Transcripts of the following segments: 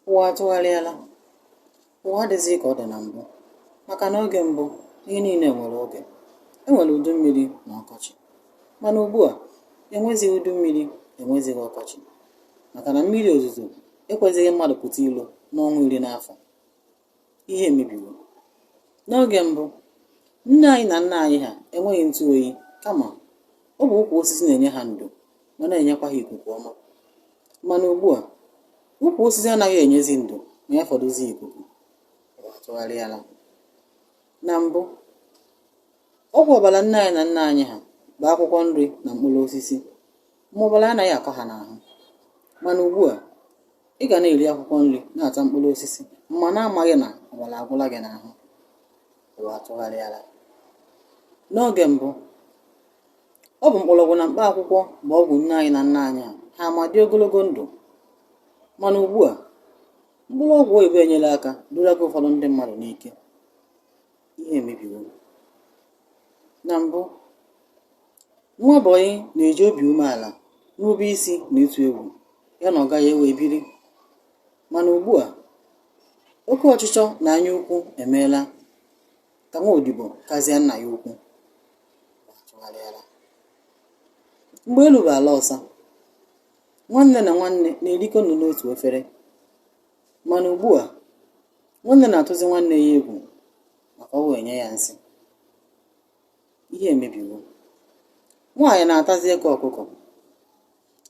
ụwa atụgharịala ụwa adịghịzị ka ọ dị na mbụ maka na oge mbụ ihe niile nwere oge e nwere udu mmiri na ọkọchị mana ugbu a enwezighị udu mmiri enwezighị ọkọchị maka na mmiri ozuzo ekwezighị mmadụ pụta ilo n'ọnwa iri n'afọ ihe emebiwo. N'oge mbụ, nne anyị na nna anyị ha enweghị ntụ oyi, kama ọ bụ ukwu osisi na-enye ha ndo ma na-enyekwa ha ikuku ọma. Mana ugbu a, ukwu osisi anaghị enyezi ndo ma ya fọdụzie ikuku. Ụwa atụgharịala. Na mbụ, ọgwụ ọbara nne anyị na nna anyị ha bụ akwụkwọ nri na mkpụrụ osisi. ma ọbara anaghị akọ ha n'ahụ mana ugbu a ị ga na-eri akwụkwọ nri na-ata mkpụrụ osisi ma na-amaghị na ọbara agwụla gị n'ahụ ụwa atụgharịala n'oge mbụ ọ bụ mkpọrọgwụ na mkpa akwụkwọ bụ ọgwụ nne anyị na nna anyị ha ma dị ogologo ndụ mana ugbu a mkpụrụ ọgwụ oyibo enyela aka duraga ụfọdụ ndị mmadụ n'ike ihe emebiwo Na mbụ, nwa bọyị na-eji obi umeala, nrube isi na ịtụ egwu ya na ọga ya wee biri. Mana ugbu a, oke ọchịchọ na anya ukwu emeela ka nwa odibo kazie nna ya ukwu. Ụwa atụgharịala. Mgbe elu bụ ala ọsa, nwanne na nwanne na-erikọ nri n'otu efere. Mana ugbu a, nwanne na-atụzi nwanne ya egwu. maka o wee nye ya nsị ihe emebiwo nwaanyị na-atazi eke ọkụkọ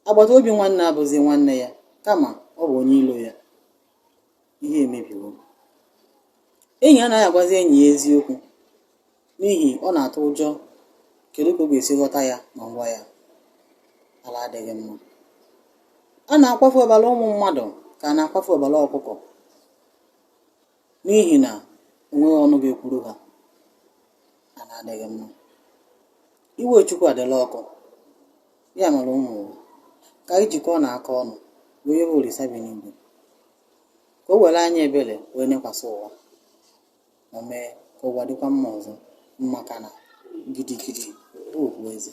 agbata obi nwanne abụzi nwanne ya kama ọ bụ onye ilo ya ihe emebiwo enyi anaghị agwazi enyi ya eziokwu n'ihi ọ na-atụ ụjọ kedu ka ọ ga-esi ghọta ya ma m gwa ya ala adịghị mma a na-akwafu ọbara ụmụ mmadụ ka a na-akwafu ọbara ọkụkọ n'ihi na o nweghị ọnụ ga-ekwuru ha ala adịghị mma iwe chukwu adịla ọkụ ya mere ụmụ ụwa ka anyị jikọọnụ aka ọnụ wee yọọ olisa bi n'igwe ka o were anya ebere wee nekwasị ụwa ma mee ka ụwa dịkwa mma ọzọ maka na gidigidi bụ ugwu eze